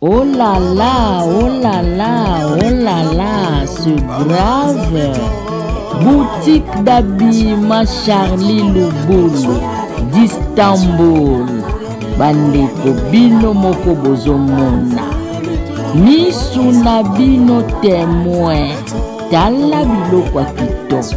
Oh là là, oh là là, oh là là, c'est grave. Boutique d'habillement Charlie Lubulu, d'Istanbul. Bandeko bino moko bozomona. Misu na bino temoin. Tala biloko ya kitoko.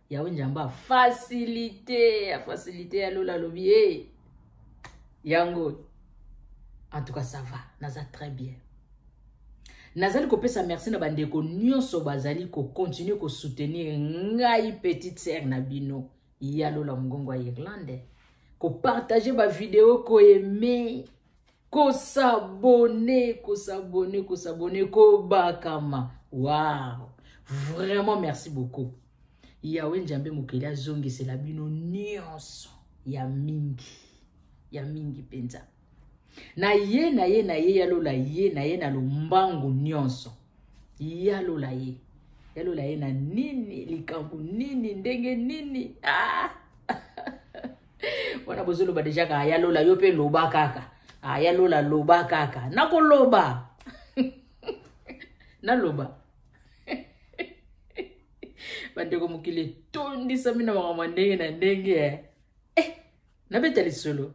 yawe njambe afasilite afasilite ya lola alobi e eh, yango en tout cas ça va naza très bien nazali kopesa merci na bandeko nyonso bazali kocontinue kosoutenir ngai petite sere na bino ya lola mongongo ya irlande kopartage bavideo koeme kosabone kosabone kosabone kobakama wow vraiment merci beaucoup yawe njambe mokeli azongisela bino nyonso ya mingi ya mingi mpenza na ye na ye na ye yalola ye na ye na lombangu nyonso yalola ye yalola ye na nini likambo nini ndenge nini ah! wana bozoloba deja kaka ya lola yo mpe loba kaka ah, ya lola loba kaka nakoloba naloba bandeko mokili etondisami na makambo ya ndenge na ndenge eh, eh nabeta lisolo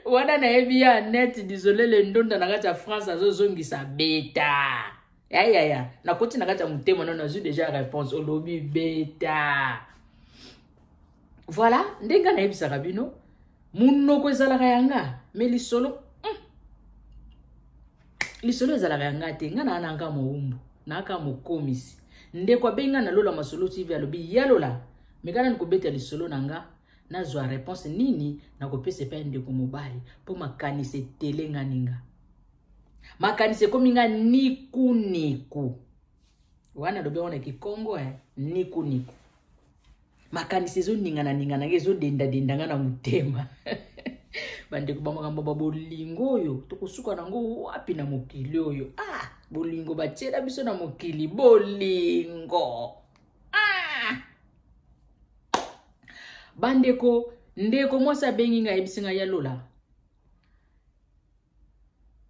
wana nayebi ya net disole le ndonda na kati ya france azozongisa beta yayaya nakoti na kati ya motema no nazwi deja réponse olobi beta voilà nde ngai nayebisaka bino monoko ezalaka ya nga me lisolo hmm. lisolo ezalaka ya nga te ngai naa na nga mowumbu naaka mokomisi ndeko abengi ngai na lola masolo tv alobi yalola mekana nikobeta lisolo na nga nazwa reponse nini nakopesa epai ndeko mobali mpo makanisi etele nga ninga makanisi ekomi nga nikuniku wana alobi yango na kikongo eh? nikuniku makanisi ezoningananingana nga ezodendadenda nga na motema bandeko ba makambo ba bolingo oyo tokosuka nango wapi na mokili oyo ah bolingo batiela biso na mokili bolingo bandeko ndeko mwasi abengi ngai ayebisi ngai ya lola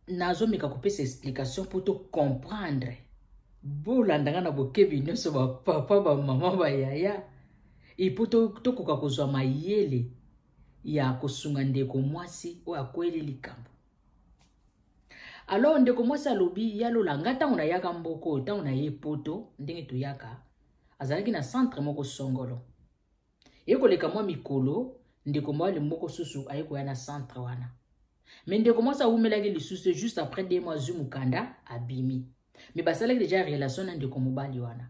nazomeka kopesa explication mpo to comprendre bolanda ngai na bokebi nyonso bapapa bamama bayaya epo tokoka kozwa mayele ya kosunga ndeko mwasi oyo akweli likambo alors ndeko mwasi alobi yalola ngai ntango nayaka mboko oyo ntango naye poto ndenge toyaka azalaki na centre moko songolo ye koleka mwa mikolo ndeko mwali moko susu aye koya na centre wana me ndeko mwasi awumelaki lisusu juste après de mois azwi mokanda abimi me basalaki deja relation na ndeko mobali wana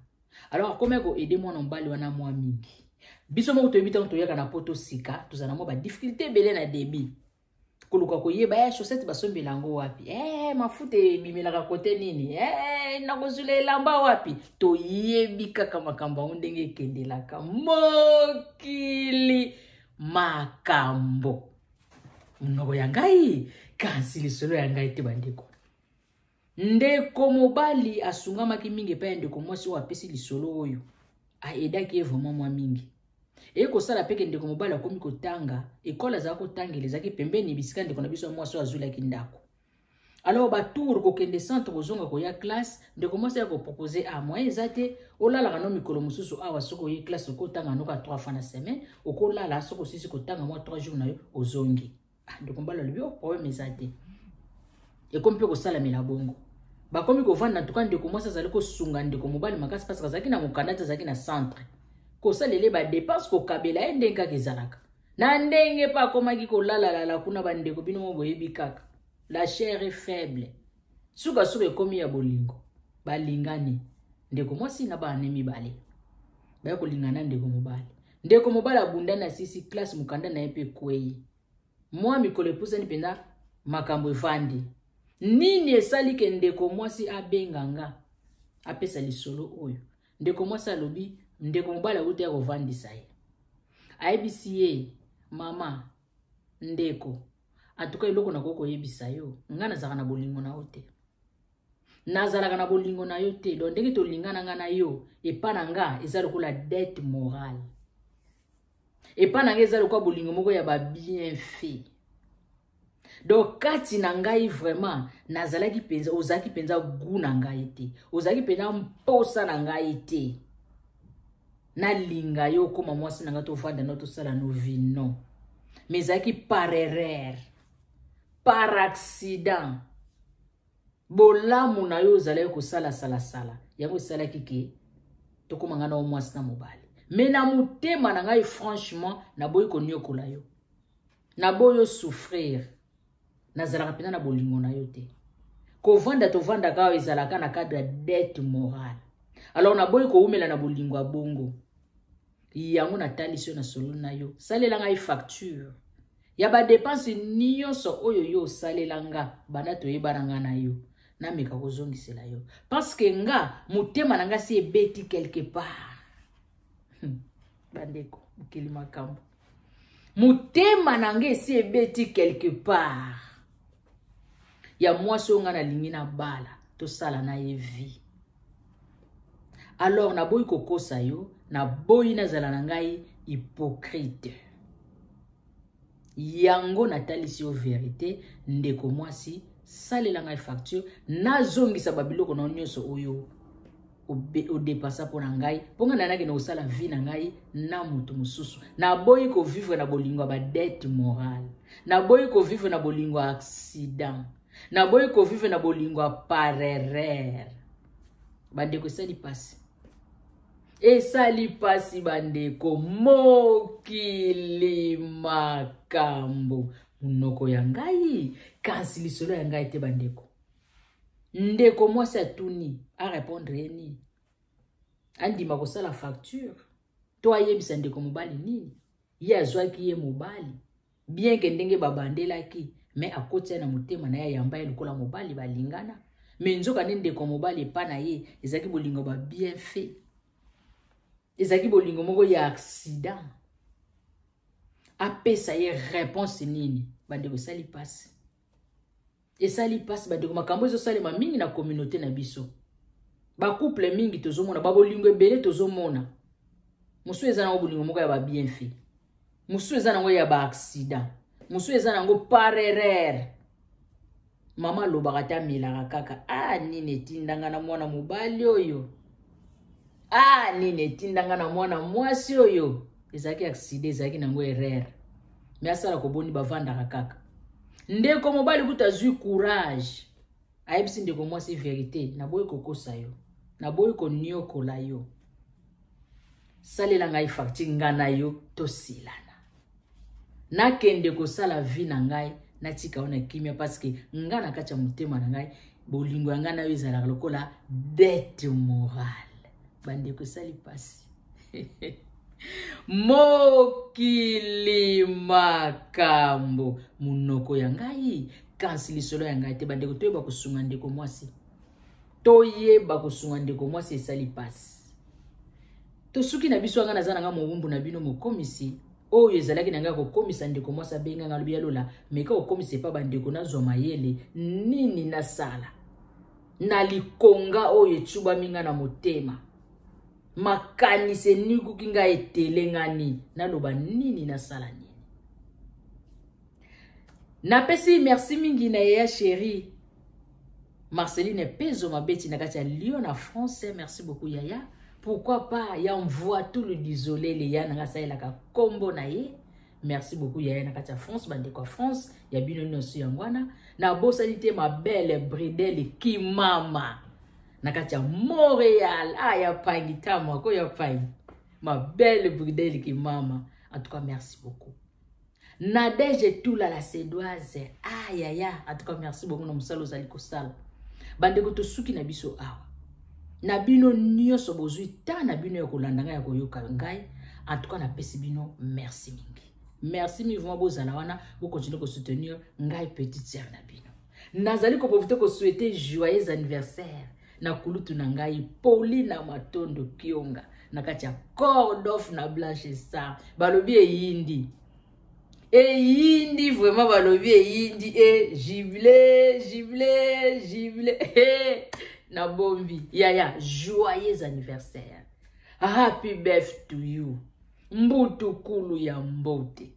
alors akomaki koaide mwana mobali wana mwa mingi biso moko toyebi ntango toyaka na poto sika tozala mwa badifficulté ebele na debit koluka koyeba eh, chaussette basombela yango wapi eh, mafuta ebimelaka kote nini eh, nakozula elamba wapi toyebi kaka makambo yango ndenge ekendelaka mokili makambo monoko ya ngai kasi lisolo ya ngai te bandeko Ndeko mobali asungamaki mingi epai ya ndeko mwasi oyo apesi lisolo oyo aedaki ye vraimen mwa mingi. Eye kosala mpe ke ndeko mobali akomi kotanga, ekole azalaki kotangela ezalaki pembeni bisika ndeko na biso ya mwasi oyo azwilaki ndako. Alors batour kokende centre kozonga koya classe, ndeko mwasi ya kopropose a ah, moyen eza te, olalaka no mikolo mosusu awa soki oye classe okotanga noka 3 fois na semaine, okolala soki osisi kotanga mwa 3 jours na yo ozongi. ah, ndeko mbala alobi o oh, problème eza te ekomi mpe kosalamela bongo bakomi kovanda ntuka ndeko mwasi azali kosunga ndeko mobali makasi mpasi azalaki na mokanda te azalaki na centre kosalela ye badepense kokabela ye ndenge kaka ezalaka na ndenge mpe akomaki kolalalala kuna bandeko bino mo boyebi kaka la chair est faible sukasuka ekomi ya bolingo balingani ndeko mwasi na bana mibale baya kolingana ndeko mobali ndeko mobali abundani asisi classe mokanda na ye mpe ekwei mwa mikolo epusani mpenza makambo efandi nini esali ke ndeko mwasi abenga nga apesa lisolo oyo ndeko mwasi alobi ndeko mobali awuti ya kovandisa ye ayebisi ye mama ndeko atuka eloko nakoki koyebisa yo ngai nazalaka na bolingo na yo te nazalaka na bolingo na yo te donc ndenge tolingana nga na yo epa na nga eza lokola dette morale epa na nga eza lokola bolingo moko ya babienfait donc kati na ngai vraiment nazalaki mpenza ozalaki mpenza gu na ngai te ozalaki mpenza mposa na ngai te nalinga yo okoma mwasi na ngai tovanda no tosala no vi no mais ezalaki par erreur par accident bolamu na yo ozalaki kosala salasala yango esalaki ke tokóma ngai na yo mwasi na mobali me na motema na ngai franchement naboyi konyokola yo naboyi osouffrir nazalaka mpenza na bolingo na yo te kovanda tovandaka awa ezalaka na cadre ya dette morale alors naboyi kowumela na bolingo ya bongo yango natalisi yo na solo na yo salela ngai facture ya badepense nyonso oyo yo osalela nga banda toyebana nga na yo nameka kozongisela yo parceke nga motema na ngai si ebeti quelque part hmm. bandeko mokili makambo motema na ngai esi ebeti quelque part ya mwasi oyo ngai nalingi na bala tosala na ye vie alors naboyi kokosa yo naboyi nazala na ngai hypocrite yango natalisi yo verite ndeko mwasi salela ngai facture nazongisa babiloko na yo nyonso oyo odepasa mpo na ngai mpo ngai nayaki na kosala vie na ngai na moto mosusu naboyi kovivre na bolingo ya badete morale naboyi kovivre na bolingo ya accident naboyi kovivre na bolingo ya parerere bandeko esali mpasi esali mpasi bandeko mokili makambo monoko ya ngai kasi lisolo ya ngai te bandeko ndeko mwasi atuni arepondre ye nini andima kosala facture to ayebisa ndeko mobali nini ye azwaki ye mobali bien ke ndenge babandelaki me akoti ya na motema na ye ayamba ye lokola mobali balingana me nzoka nde ndeko mobali epa na ye ezalaki bolingo ba bien fait ezalaki bolingo moko ya accident apesa ye réponse nini bandeko esali mpasi esali mpasi bandeko makambo ezosalema mingi na kominauté na biso bacouple mingi tozomona babolingo ebele tozomona mosusu eza nango bolingo moko ya babienfait mosusu eza nango ya baaccident mosusu eza nango par erreur mama alobaka te amelaka kaka a ah, nini etindanga na mwana mobali oyo ah nini etinda nga na mwana mwasi oyo ezalaki aksida ezalaki nango erreur me asala koboni bavandaka kaka ndeko mobali kuta azwi courage ayebisi ndeko mwasi verité naboyi kokosa yo naboyi koniokola yo salela ngai fakti nga na yo tosilana nakende kosala vie na ngai natika yo na kimia parceke ngai na kati ya motema na ngai bolingo ya ngai na yo ezalaka lokola dete morale bandeko esali mpasi mokili makambo monoko ya ngai kasi lisolo ya ngai te bandeko toyeba kosunga ndeko mwasi toyeba kosunga ndeko mwasi esali mpasi tosuki na biso anga naza na nga mowumbu na bino mokomisi oyo ezalaki na ngai kokomisa ndeko mwasi abenga ngai alobi ya lola meka kokomisa epa bandeko nazwa mayele nini nasala na likonga oyo ecubami ngai na motema makanisi enikuki ngai etelengani naloba nini nasala nini napesi merci mingi na ye ya sheri Marceline Pezo Mabeti na kati ya Lyon na France, merci beaucoup Yaya. Pourquoi pas ya envoie tout le désolé les ya nanga saelaka combo na ye. Merci beaucoup Yaya na kati ya France, bande kwa France, ya bino nyoso ya ngwana. Na bosani te ma belle Bridel Kimama. Na kati ya Montréal, ah ya pangi tamo ko ya pangi. Ma belle Bridel Kimama. En tout cas, merci beaucoup. Nadège Tula la Sedoise. Ah ya ya, en tout cas merci beaucoup na musala ozali kosala. Bandeko tosuki na biso awa. Na bino nyonso bozwi temps na bino ya kolanda ngai ya koyoka ngai. En tout cas napesi bino merci mingi. Merci mivuma bozala wana, bo continuer ko soutenir ngai petite sœur na bino. Nazali ko profiter ko souhaiter joyeux anniversaire na kulutu na ngai Paulina Matondo Kionga na kati ya Cordof na Blanche Star balobi eyindi eyindi vraiment balobi eyindi e eh, jibile jibile jibile eh, na bombi yaya joyeux anniversaire happy birth to you mbutu kulu ya mbote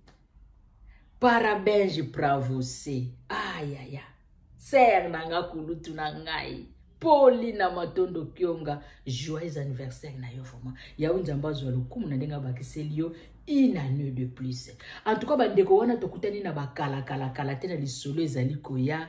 parabenge pravose ayaya ah, ser na nga kulutu na ngai poli na matondo kionga joyeux anniversaire na yo vraiment yawe nzambe azwa lokumu na ndenge abakiseli yo une année de plus en tout cas bandeko wana tokutani na bakalakalakala te na lisolo ezali koya